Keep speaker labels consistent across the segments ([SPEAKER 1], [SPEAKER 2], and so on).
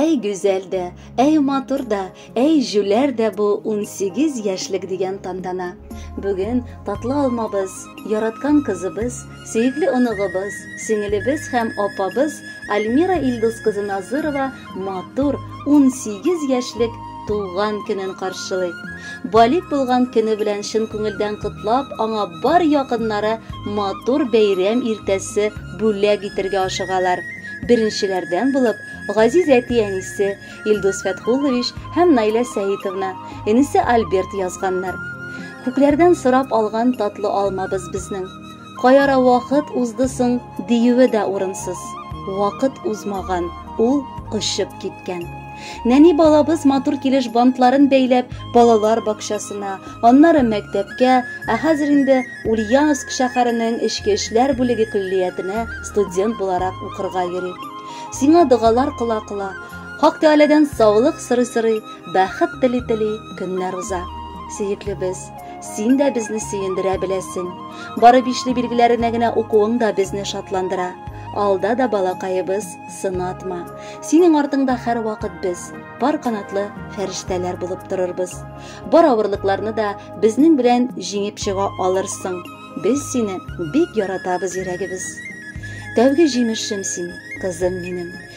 [SPEAKER 1] Әй гүзәл дә, әй матур да, әй җүләр дә бу 18 яшьлек дигән тантана. Бүген татлы алмабыз, яраткан кызыбыз, сөекле оныгыбыз, сеңелебез һәм апабыз Альмира Илдус кызы Назырова матур унсигез яшьлек туган көнен каршылый. Балигъ булган көне белән чын күңелдән котлап, аңа бар якыннары матур бәйрәм иртәсе бүләк итергә ашыгалар. Беренчеләрдән булып, газиз әти-әнисе Илдус Фәтхуллович һәм Наилә Сәитовна, энесе Альберт язганнар. Күкләрдән сорап алган татлы алмабыз безнең. Каяра вакыт узды соң диюе дә урынсыз. Вакыт узмаган, ул очып киткән. Нәни балабыз матур килеш бантларын бәйләп, балалар бакчасына, аннары мәктәпкә, ә хәзер инде Ульяновск шәһәренең эчке эшләр бүлеге көллиятенә студент буларак укырга йөри. Сиңа догалар кыла-кыла, Хак Тәгаләдән саулык сорый-сорый, бәхет тели-тели көннәр уза. Сөеклебез, Син дә безне сөендерә беләсең. Бары бишле билгеләренә генә укуың да безне шатландыра. Алда да балакаебыз, сынатма. Синең артыңда һәрвакыт без, пар канатлы фәрештәләр булып торырбыз. Бар авырлыкларны да безнең белән җиңеп чыга алырсың. Без сине бик яратабыз, йөрәгебез. Тәүге җимешем син, кызым минем.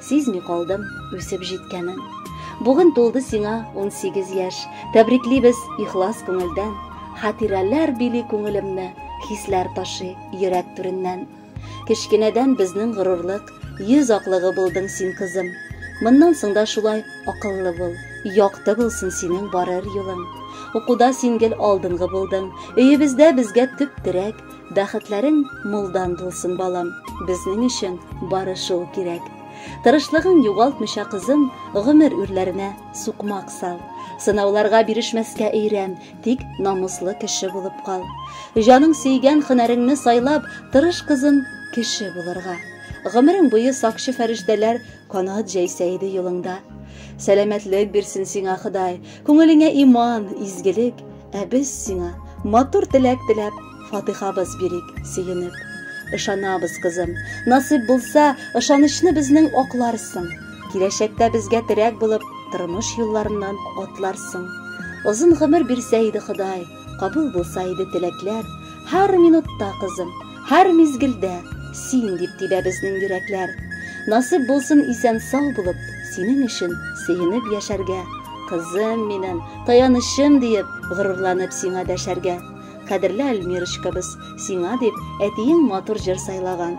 [SPEAKER 1] Сизми калдым үсеп җиткәнен. Бүген тулды сиңа 18 яшь. Тәбриклибез ихлас күңелдән. Хатирәләр били күңелемне, хисләр ташый йөрәк түреннән. Кечкенәдән безнең горурлык, йөз аклыгы булдың син, кызым. Моннан соң да шулай акыллы бул, якты булсын синең барыр юлың. Укуда син гел алдынгы булдың. Өебездә безгә төп терәк, Бәхетләрең мулдан булсын, балам. Безнең өчен бары шул кирәк. Тырышлыгың югалтмыйча, кызым, гомер үрләренә сукмак сал. Сынауларга бирешмәскә өйрән, тик намуслы кеше булып кал. Җаның сөйгән хөнәреңне сайлап, тырыш кызым, кеше булырга. Гомерең буе сакчы фәрештәләр Канат җәйсә иде юлыңда. Сәламәтлек бирсен сиңа Ходай, күңелеңә иман, изгелек, ә без сиңа матур теләк теләп, фатыйхабыз бирик, сөенеп. Ышанабыз, кызым, насыйп булса, ышанычны безнең акларсың. Киләчәктә безгә терәк булып, тормыш юлларыннан атларсың. Озын гомер бирсә иде Ходай, Кабул булса иде теләкләр, Һәр минутта, кызым, һәр мизгелдә Син дип тибә безнең йөрәкләр. Насыйп булсын исән-сау булып, Синең өчен сөенеп яшәргә, Кызым минем, таянычым диеп, Горурланып сиңа дәшәргә. Кадерле Альмирочкабыз, сиңа дип, Әтиең матур җыр сайлаган.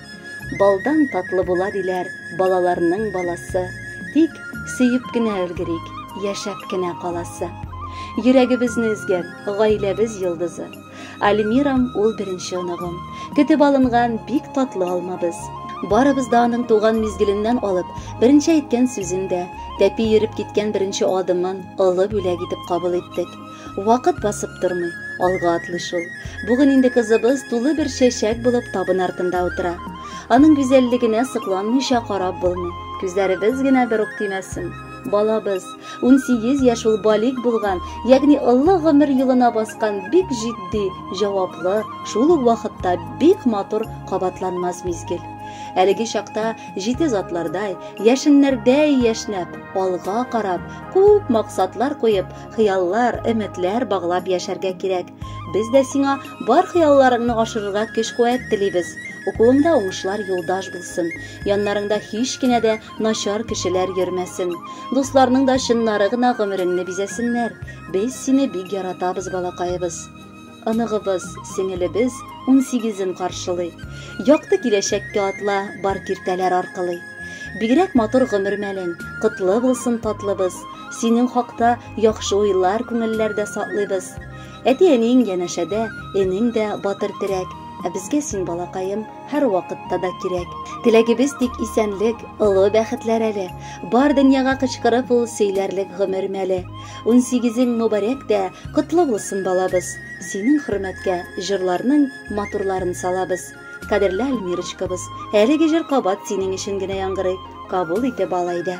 [SPEAKER 1] Балдан татлы була диләр балаларның баласы, тик сөеп кенә өлгерик, яшәп кенә каласы. Йөрәгебезне өзгән, гаиләбез йолдызы. Альмирам ул беренче оныгым. Көтеп алынган бик татлы алмабыз. Барыбыз да аның туган мизгеленнән алып, беренче әйткән сүзен дә, тәпи йөреп киткән беренче адымын олы бүләк итеп кабул иттек. Вакыт басып тормый, алга атлый шул. Бүген инде кызыбыз тулы бер чәчәк булып табын артында утыра. Аның гүзәллегенә сокланмыйча карап булмый. Күзләребез генә бер ук тимәсен. Балабыз, 18 яшь ул балик булган, ягъни олы гомер юлына баскан бик җитди, җаваплы, шул ук вакытта бик матур кабатланмас мизгел. Әлеге чакта җитез атлардай, яшеннәрдәй яшьнәп, алга карап, күп максатлар куеп, хыяллар, өметләр баглап яшәргә кирәк. Без дә сиңа бар хыялларыңны ашырырга көч-куәт телибез. Укуыңда уңышлар юлдаш булсын. Яннарыңда һич кенә дә начар кешеләр йөрмәсен. Дусларның да чыннары гына гомереңне бизәсеннәр. Без сине бик яратабыз, балакаебыз. Оныгыбыз, сеңелебез унсигезен каршылый. Якты киләчәккә атла бар киртәләр аркылый. Бигрәк матур гомер мәлең, котлы булсын татлыбыз. Синең хакта яхшы уйлар күңелләрдә саклыйбыз. Әти-әниең янәшәдә, энең дә батыр терәк. Ә безгә син балакаем. һәр вакытта да кирәк. Теләгебез тик исәнлек, олы бәхетләр әле. Бар дөньяга кычкырып ул сөйләрлек гомер мәле. 18-ң мөбарәк дә, котлы булсын балабыз. Синең хөрмәткә җырларның матурларын салабыз. Кадерле Альмирочкабыз, әлеге җыр кабат синең өчен генә яңгырый. Кабул итеп ал әйдә.